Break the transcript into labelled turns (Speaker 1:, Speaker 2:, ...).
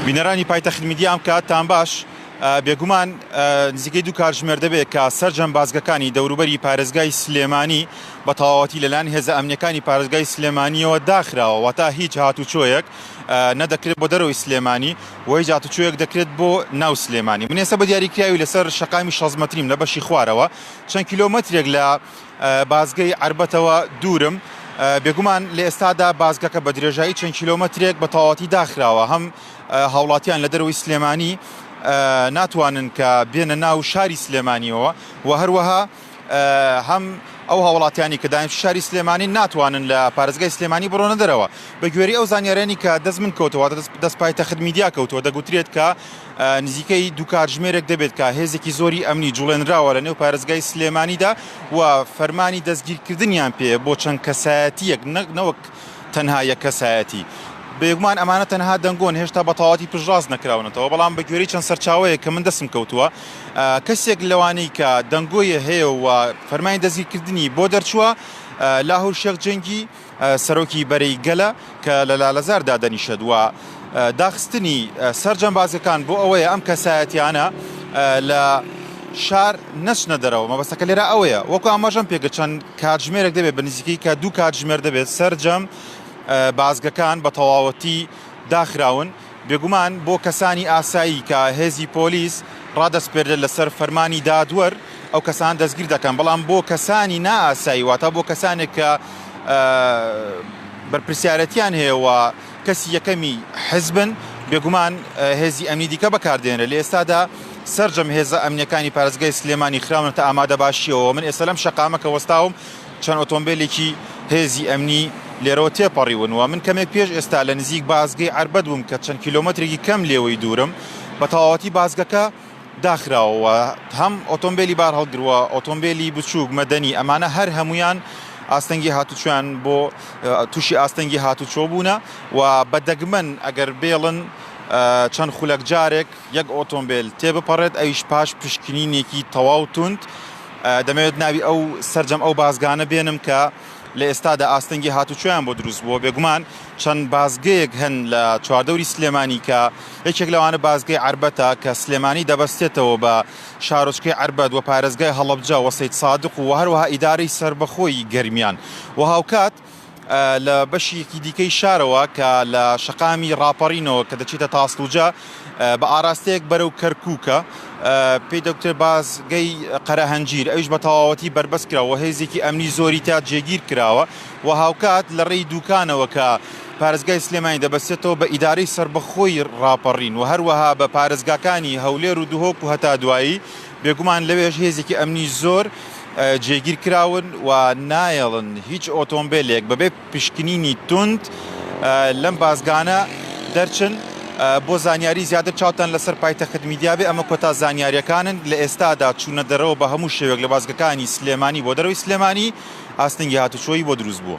Speaker 1: بینەرانی پایتەخت میدیا ئەم کات تان باش. بێگومان نزیکەی دوو کارژمێر دەبێت کە سەرجەم بازگەکانی دەوروبەری پارێزگای سلێمانی بە تەواوەتی لەلایەن هێزە ئەمنیەکانی پارێزگای سلێمانیەوە داخراوە واتە هیچ هاتوچۆیەک نەدەکرێت بۆ دەرەوەی سلێمانی و هیچ هاتوچۆیەک دەکرێت بۆ ناو سلێمانی من ئێستا بە دیاریکراوی لەسەر شەقامی شەزمەتریم لە بەشی خوارەوە چەند کیلۆمەترێک لە بازگەی عەربەتەوە دوورم، بێگومان لە ئێستادا بازگەکە بە درێژایی چەند کیلۆمەترێک بە تەواوەتی داخراوە، هەم هاوڵاتیان لە دەرەوەی سلێمانی ناتوانن کە بێنە ناو شاری سلێمانیەوە و هەروەها هەم ئەو هاوڵاتیانی کە دایم شاری سلێمانی ناتوانن لە پارێزگای سلێمانی بڕۆنە دەرەوە بە گوێری ئەو زانیارانی کە دەست من کەوتەوە دەست پایتەخت میدیا کەوتووە دەگوترێت کە نزیکەی دوو کاتژمێرێک دەبێت کە هێزێکی زۆری ئەمنی جوڵێنراوە لە نێو پارێزگای سلێمانیدا و فەرمانی دەستگیرکردنیان پێیە بۆ چەند کەسایەتیەک نەک نەوەک تەنها یەک کەسایەتی. بێگومان ئەمانە تەنها دەنگۆن هێشتا بە تەواوەتی پشتڕاست نەکراونەتەوە، بەڵام بە گوێرەی چەند سەرچاوەیەک کە من دەستم کەوتووە کەسێک لەوانەی کە دەنگۆیە هەیە و فەرمانی دەستگیرکردنی بۆ دەرچووە لاهور شێخ جەنگی، سەرۆکی بەرەی گەلە کە لە لالەزار دادەنیشێت و داخستنی سەرجەم بازگەکان بۆ ئەوەیە ئەم کەسایەتیانە لە شار نەچنە دەرەوە مەبەستەکە لێرە ئەوەیە وەکو ئاماژەم پێگە چەند کاتژمێرێک دەبێت بە نزیکەی کە دوو کاتژمێر دەبێت سەرجەم بازگەکان بە تەواوەتی داخراون بێگومان بۆ کەسانی ئاسایی کە هێزی پۆلیس ڕادەسپێردرێت لەسەر فەرمانی دادوەر ئەو کەسان دەستگیر دەکەن بەڵام بۆ کەسانی نا ئاسایی واتە بۆ کەسانێک کە بەرپرسیارەتیان هەیەەوە کەسی یەکەمی حزبن بێگومان هێزی ئەمنی دیکە بەکاردێنرە لە ئێستادا سرجەم هێزە ئەمنیەکانی پارێزگای سلێمانی خراونەتە ئامادە باشیەوە من ئێستا لەم شقامە کە وەستاوم چەند ئۆتۆمبێلێکی هێزی ئەمنی لێرەوە تێپەڕیون و من کەمێک پێش ئێستا لە نزیک بازگەی عەربەت بووم کە چەند کیلۆمەترێکی کەم لێوەی دوورم، بە تەواوەتی بازگەکە داخراوە و هەم ئۆتۆمبێلی بارهەڵگر و ئۆتۆمبێلی بچووک، مەدەنی، ئەمانە هەر هەموویان ئاستەنگی هاتوچۆیان بۆ تووشی ئاستەنگی هاتوچۆ بوونە و بە دەگمەن ئەگەر بێڵن چەند خولەک جارێک یەک ئۆتۆمبێل تێبپەڕێت ئەویش پاش پشکنینێکی تەواو توند دەمەوێت ناوی ئەو سەرجەم ئەو بازگانە بێنم کە لە ئێستادا ئاستەنگی هاتوچۆیان بۆ دروست بووە بێگومان چەند بازگەیەک هەن لە چواردەوری سلێمانی کە یەکێک لەوانە بازگەی عربەتە کە سلێمانی دەبەستێتەوە بە شارۆچکەی عربەت و پارێزگای هەڵەبجە وە سید سادق و هەروەها ئیدارەی سربەخۆی گەرمیان و هاوکات لە بەشیکی دیکەی شارەوە کە لە شەقامی ڕاپەڕینەوە کە دەچێتە تاسڵوجە بە ئاراستەیەک بەرەو کەرکووکە پێی دەکتێ بازگەی قەرەهەنجیر ئەوش بە تەواوەتی بربەست کراوە هێزێکی ئەمنی زۆری تا جێگیر کراوە و هاوکات لە ڕێی دوکانەوە کە پارێزگای سلێمانی دەبەستێتەوە بە ئیدارەی سربەخۆی ڕاپەڕین و هەروەها بە پارێزگاکانی هەولێر و دهۆک و هەتا دوایی بێگومان لەوێش هێزێکی ئەمنی زۆر جێگیر کراون و نایەڵن هیچ ئۆتۆمبێلێک بەبێ پشکنینی توند لەم بازگانە دەرچن بۆ زانیاری زیاتر چاوتان لەسەر پایتەخت میدیا بێ ئەمە کۆتا زانیاریەکانن لە ئێستادا چوونە دەرەوە بە هەموو شێوێک لە بازگەکانی سلێمانی بۆ دەرەوەی سلێمانی ئاستنگی هاتوچۆی بۆ دروست بووە.